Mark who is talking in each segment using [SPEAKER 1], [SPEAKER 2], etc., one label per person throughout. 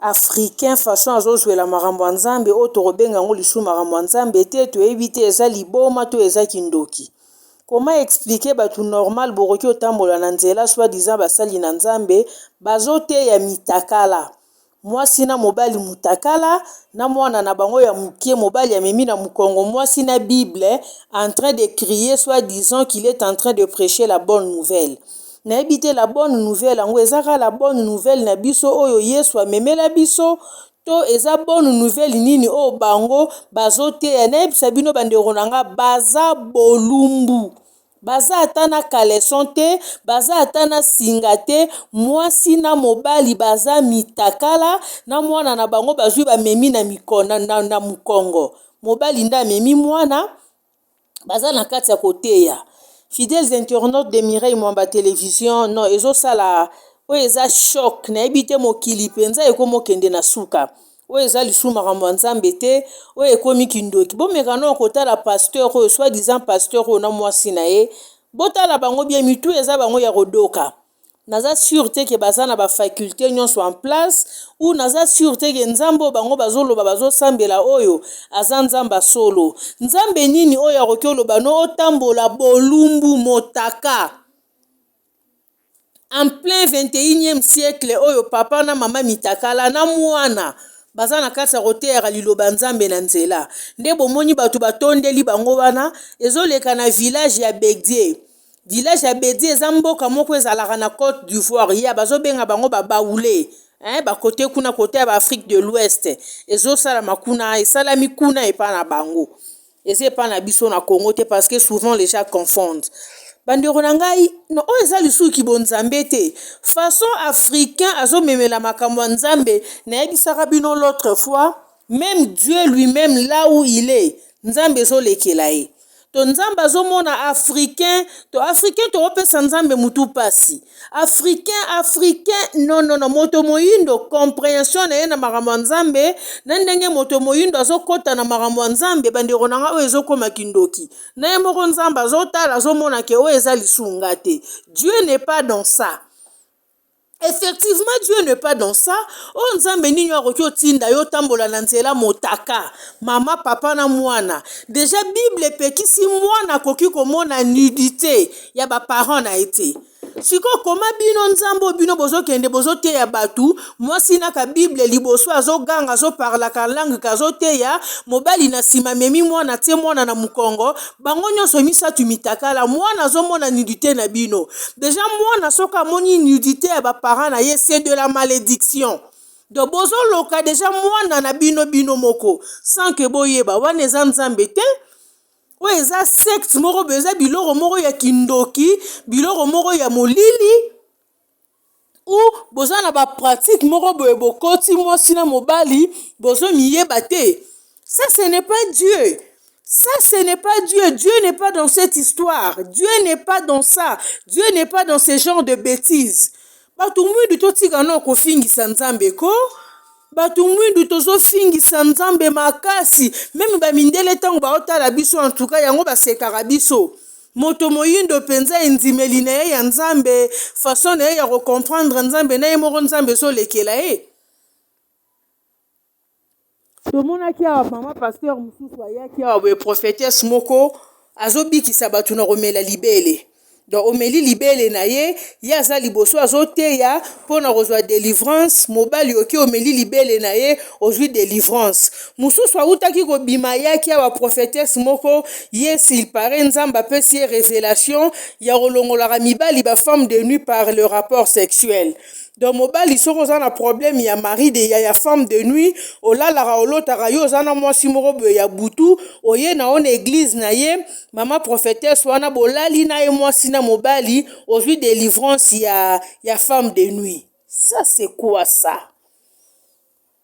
[SPEAKER 1] africain façon azozwela makambo ya nzambe oyo tokobenga yango lisusu makambo ya nzambe te toyebi te eza liboma to eza kindoki koma explike bato normal bokoki kotambola na nzela soi diza basali na nzambe bazoteya mitakala mwasi na mobali motakala na mwana na bango ya moke mobali amemi na mokongo mwasi na bible entrain de crie soi disant qu il est entrain de preche la bonne nouvelle nayebi te la bonne nouvelle yango eza kaka la bonne nouvelle na biso oyo yesu amemela biso to eza bonne nouvelle nini oyo bango bazoteya nayebisa bino bandeko na nga baza bolumbu baza ata na kaleson te baza ata na singa te mwasi na mobali baza mitakala na mwana na bango bazwi bamemi na, mikona, na, na mokongo mobali nde amemi mwana baza na kati ya koteya fidèles internautes de Mireille Mwamba television non ezosala oyo eza choc nayebi te mokili mpenza ekomi okende na suka oyo eza lisusu makambo ya nzambe te oyo ekomi kindoki bomeka nao kotala pasteur oyo soit disant pasteur oyo na mwasi na ye botala bango bie mitu eza bango ya kodoka naza sur te ke baza na ba faculte nionso en place ou naza sur te ke nzambe oyo bango bazoloba bazosambela oyo aza nzambe ya solo nzambe nini oyo akoki oloba no otambola bolumbu motaka en plein 21e siècle oyo papa na mama mitakala na mwana baza na kati ya koteyaka liloba nzambe na nzela nde bomoni bato batondeli bango wana ezoleka na village ya bedie Village ya Bedi eza mboka moko ezalaka na Cote d'Ivoire. Ya bazo benga bango ba Baoulé. Hein, ba kote kuna kote ya ba Afrique de l'Ouest. Ezo sala makuna, esalami kuna epa na bango. Eza epa na biso na Congo te parce que souvent les gens confondent. Bandeko na ngai, no, oyo eza lisusu kibonzambe te. Façon africain azo memela makambo ya Nzambe, nayebisaka bino l'autre fois, Meme Dieu lui meme là où il est nzambe ezo lekela ye to nzambe azomona africain to africain toopesa nzambe mutu pasi africain africain non non non moto moyindo comprehension na ye na makambo ya nzambe na ndenge moto moyindo azokota na makambo ya nzambe bandeko na nga oyo ezokoma kindoki na ye moko nzambe azotala azomona ke oyo eza lisunga te Dieu n'est pas dans ça Effectivement Dieu n'est pas dans ça. Oh Nzambe nini akoki otinda yo tambola na nzela motaka. Mama papa na mwana. Déjà Bible epekisi mwana akoki komona nudité ya ba parents na été. Siko koma bino nzambo bino bozo kende bozo teya batu mwasi na ka Bible liboso azo ganga azo parla ka langue kazo teya mobali na sima memi mwana tie mwana na mukongo bango nyonso misato mitakala mwana azomona nudite na bino deja mwana soki amoni nudite ya baparent na ye se de la malediction donc bozoloka deja mwana na bino bino moko sans ke boyeba wana eza nzambe te oyo eza secte moko boye eza biloko moko ya kindoki biloko moko ya molili ou boza na ba pratique moko boye bokoti mwasi na mobali bozo miyeba te ça ce n'est pas Dieu ça ce n'est pas Dieu Dieu n'est pas dans cette histoire Dieu n'est pas dans ça Dieu n'est pas dans ce genre de bêtises bato mwindu totika nao kofingisa Nzambe ko bato mwindu tozofingisa Nzambe makasi meme ba mindele ntango baotala biso en tout cas yango basekaka biso Moto moyindo penza endimeli na ye ya Nzambe, façon na ye ya ko comprendre Nzambe na ye moko Nzambe ezo lekela ye. Tomonaki awa mama pasteur mosusu ayaki awa boye prophetesse moko azo bikisa bato na komela libele. Donc omeli libele na ye, ye aza liboso azo teya mpo na kozwa delivrance, mobali oke omeli libele na ye ozwi delivrance. Mosusu awutaki kobima ayaki awa prophetesse moko yes il paraît nzambe apesi ye revelation ya kolongolaka mibali ba femme de nuit par le rapport sexuel donc mobali soki oza na problème ya mari de ya, ya femme de nuit olalaka olotaka yo oza na mwasi moko boye ya butu oye na ona eglise na ye mama prophetesse wana bolali na ye mwasi na mobali ozwi delivrance ya, ya femme de nuit ça c'est quoi ça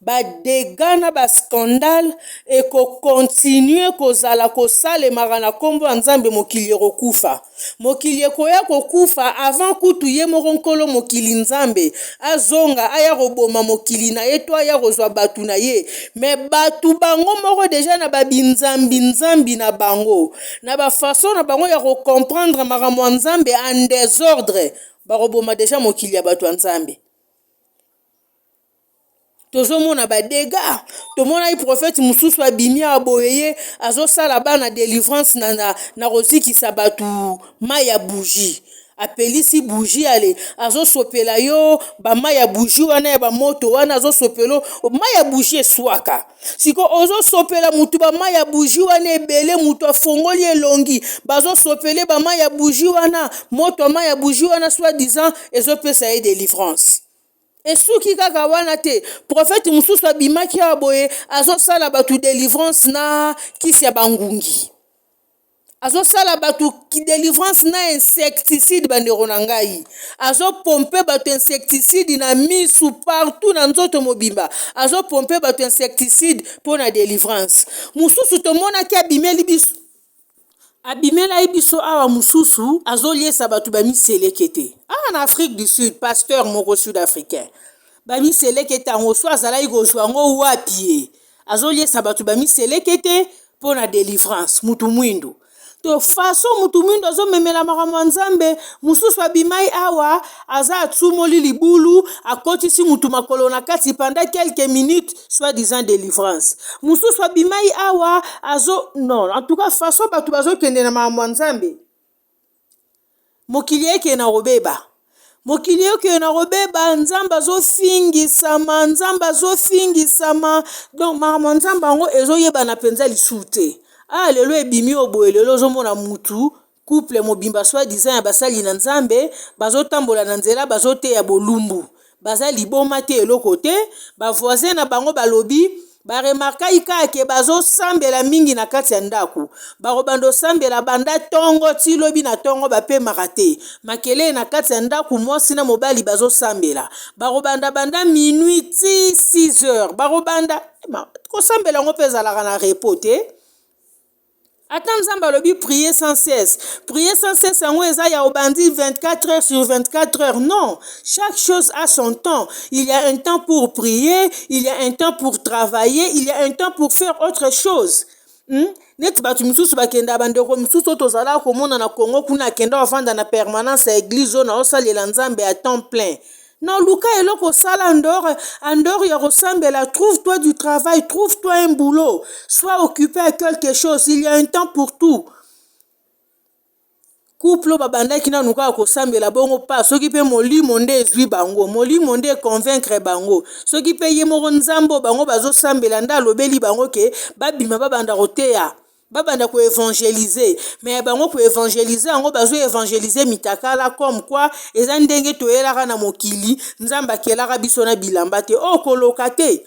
[SPEAKER 1] ba degats na ba scandales eko continuer kozala kosalemaka na kombo ya Nzambe mokili ekokufa mokili ekoya kokufa avant kutu ye moko nkolo mokili Nzambe azonga aya koboma mokili na ye to aya kozwa batu na ye me batu bango moko deja na ba binzambi nzambi na bango na ba façon na bango ya ko comprendre makambo ya Nzambe en desordre bakoboma deja mokili ya batu ya Nzambe. tozomona ba dega tomonaki profete mosusu abimi awa boye ye azosala bana delivrance na, na, na kozikisa bato mai ya bougie apelisi bougie ale azosopela yo bamai ya bougie wana ya bamoto wana azosopela mai ya bougie eswaka siko ozosopela motu bamai ya bougie wana ebele motu afongoli elongi bazosopele bamai ya bougie wana moto ya mai ya bougie wana soit disant ezopesa ye delivrance Esuki kaka wana te, prophète mususu abimaki awa boye azosala batu delivrance na kisi ya bangungi. Azosala batu delivrance na insecticide bandeko na ngai. Azopompe batu insecticide na misu partout na nzoto mobimba. Azopompe batu insecticide pona delivrance. Mususu tomonaki abimeli biso abimelaki biso awa mususu azoliesa bato ba miselekete awa na afrique du sud pasteur moko sud africain bamiselekete yango so azalaki kozwa yango wapi ye azoliesa bato ba miselekete mpo na delivrance mutu mwindu to faso mutu mwindu azomemela makambo ya nzambe mosusu abimai awa Aza atumoli libulu, akotisi mutu makolo na kati pendant quelques minutes, soit disant delivrance. Mususu abimai awa azo non, en tout cas façon batu bazo kende na makambo ya Nzambe. Mokili eke na kobeba. Mokili eke na kobeba, Nzambe azo fingisama, Nzambe azo fingisama. Donc makambo ya Nzambe yango ezo yebana penza lisusu te. Ah lelo ebimi oyo boye lelo ozo mona mutu Couple mobimba soit disant ya basali na nzambe bazo tambola na nzela bazo teya bolumbu baza liboma te eloko te ba voisin na bango balobi ba remarkai kaka ke bazo sambela mingi na kati ya ndako bakobando sambela banda tongo ti lobi na tongo bapemaka te makelele na kati ya ndako mwasi na mobali bazo sambela bakobanda banda minuit ti 6 heures bakobanda kosambela yango mpe ezalaka na repo te Ata nzambe alobi prier sans cesse. Prier sans cesse yango eza ya obandi 24 heures sur 24 heures. Non, chaque chose a son temps. Il y a un temps pour prier, il y a un temps pour travailler, il y a un temps pour faire autre chose. Hmm? neti bato mosusu bakenda bandeko mosusu oyo tozalaka komona na congo kuna akenda ofanda na permanence ya eglise oyo naosalela nzambe ya temps plein Na luka eloko sala andor andor ya kosambela trouve toi du travail trouve toi un boulot soit occupé à quelque chose il y a un temps pour tout couple babandaki nanu kaka kosambela bongo pa soki mpe molimo nde ezwi bango molimo nde econvaincre bango soki mpe ye moko nzambe bango bazosambela nde alobeli bango ke babima babanda koteya babanda ko evangeliser mais ya bango ko evangeliser yango bazo evangeliser mitakala comme quoi eza ndenge toyelaka na mokili nzambe akelaka biso na bilamba te oyo oh, koloka te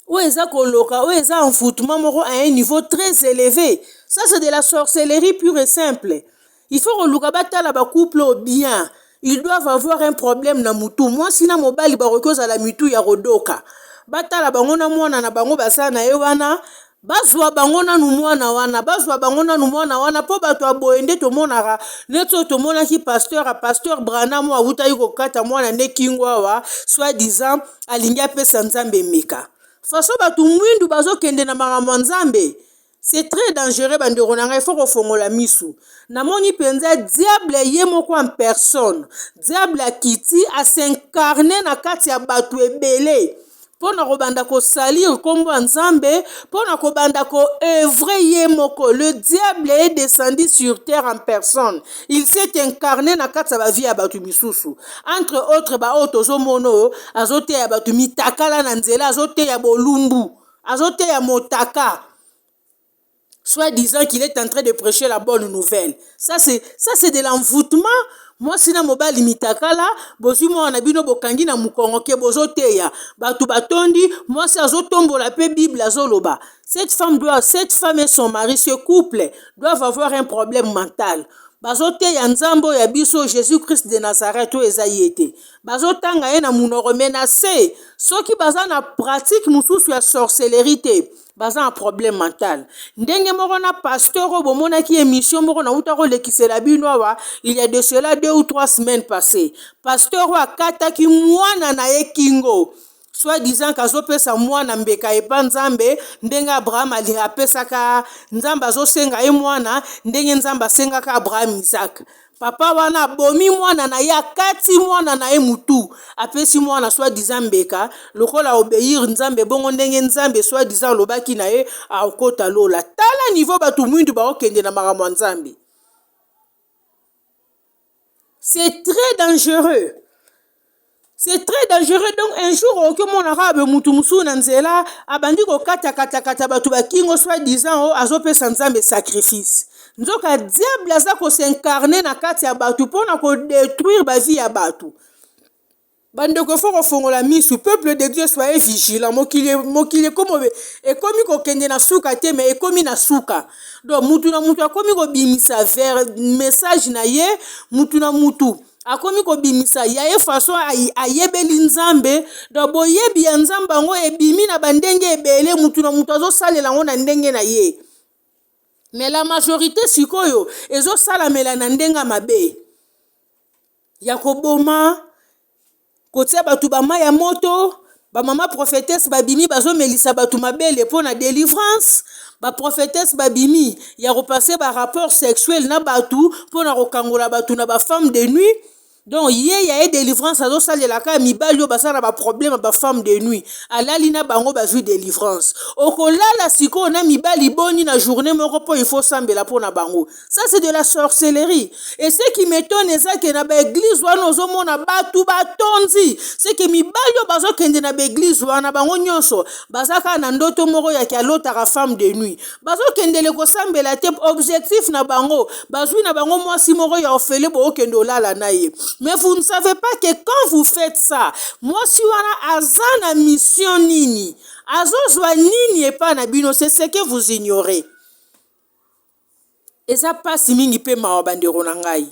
[SPEAKER 1] oyo eza koloka oyo eza envoûtement moko à un niveau très élevé ça c'est de la sorcellerie pure et simple Il faut koluka batala ba couple oyo bien. Ils doivent avoir un problème na mutu. Mwasi na mobali bakoki kozala mitu ya kodoka. Batala bango na mwana na bango baza na ye wana bazwa bango nanu mwana wana bazwa bango nanu mwana wana mpo bato ya boye nde tomonaka neti oyo tomonaki pasteur a pasteur branam oyo awutaki kokata mwana nde kingo awa soit disant alingi apesa nzambe emeka faso bato mwindu bazokende na makambo ya nzambe C'est très dangereux bandeko na ngai faut kofongola misu namoni mpenza diable ye moko en personne diable akiti asincarne na kati ya bato ebele mpo na kobanda kosalir nkombo ya nzambe mpo na kobanda koevre ye moko le diable est descendu sur terre en personne il s'est incarne na kati ya bavie ya bato misusu entre autres baoyo tozomono azoteya bato mitakala na nzela azoteya bolumbu azoteya motaka soit disant qu'il est en train de prêcher la bonne nouvelle ça c'est ça c'est de l'envoûtement mwasi na mobali mitakala bozwi mwana na bino bokangi na mokongo ke bozoteya bato batondi mwasi azotombola mpe bible azoloba cette femme doit cette femme et son mari ce couple doivent avoir un problème mental bazoteya nzambe oyo ya biso jésus christ de nazareth oyo eza ye te bazotanga ye na munoko mais na se soki baza na pratique mosusu ya sorcellerie te baza na problème mental ndenge moko na pasteur oyo bomonaki émission moko nauta kolekisela bino awa il y a de cela deux ou trois semaines passé pasteur oyo akataki mwana na ye kingo soit disant kazopesa mwana mbeka epa nzambe ndenge abraham apesaka nzambe azosenga ye mwana ndenge nzambe asengaka abraham isaac papa wana abomi mwana na ye akati mwana na ye mutu apesi mwana soit disant mbeka lokola obeir nzambe bongo ndenge nzambe soit disant alobaki na ye akota lola tala niveau bato mwindu baokende na makambo ya nzambe c'est très dangereux c'est très dangereux donc un jour okoki omona kaka boye motu mosusu na nzela abandi kokatakatakata bato bakingo soit disant o azopesa nzambe sacrifice nzoka diable aza kosincarne na kati ya bato mpona kodetruire bavie ya bato Bandeko faut kofongola misu peuple de Dieu soyez vigilant mokili mokili ekomo ekomi kokende na suka te mais ekomi na suka donc mutu na mutu akomi kobimisa vers message na ye mutu na mutu akomi kobimisa ya ye façon ayebeli nzambe donc boyebi ya nzambe yango ebimi na bandenge ebele mutu na mutu azosalela yango na ndenge na ye mais la majorité sikoyo ezosalamela na ndenge mabe ya koboma kotia bato ba mai ya moto bamama prophetese babimi bazomelisa bato mabele mpo na delivrance baprophetese babimi ya kopase barapport sexuel na bato mpo na kokangola bato na bafemme de nuit donc ye ya ye delivrance azosalelaka mibali oyo baza na baproblème bafemme de nuit alali na bango bazwi delivrance okolala sikoyo na mibali boni na journée moko mpo il faut osambela mpo na bango Ça c'est de la sorcellerie. Et ce qui m'étonne eza que na ba église wana ozomona batu batondi. C'est que mibali oyo bazokende na ba église wana bango nyonso baza kaka na ndoto moko ya ki alotaka femme de nuit. Bazokendele kosambela te objectif na bango bazwi na bango mwasi moko ya ofele bookende olala na ye. Mais vous ne savez pas que quand vous faites ça mwasi wana aza na mission nini? Azozwa nini epai na bino? C'est ce que vous ignorez. Eza pasi mingi pe mawa bandeko na ngai.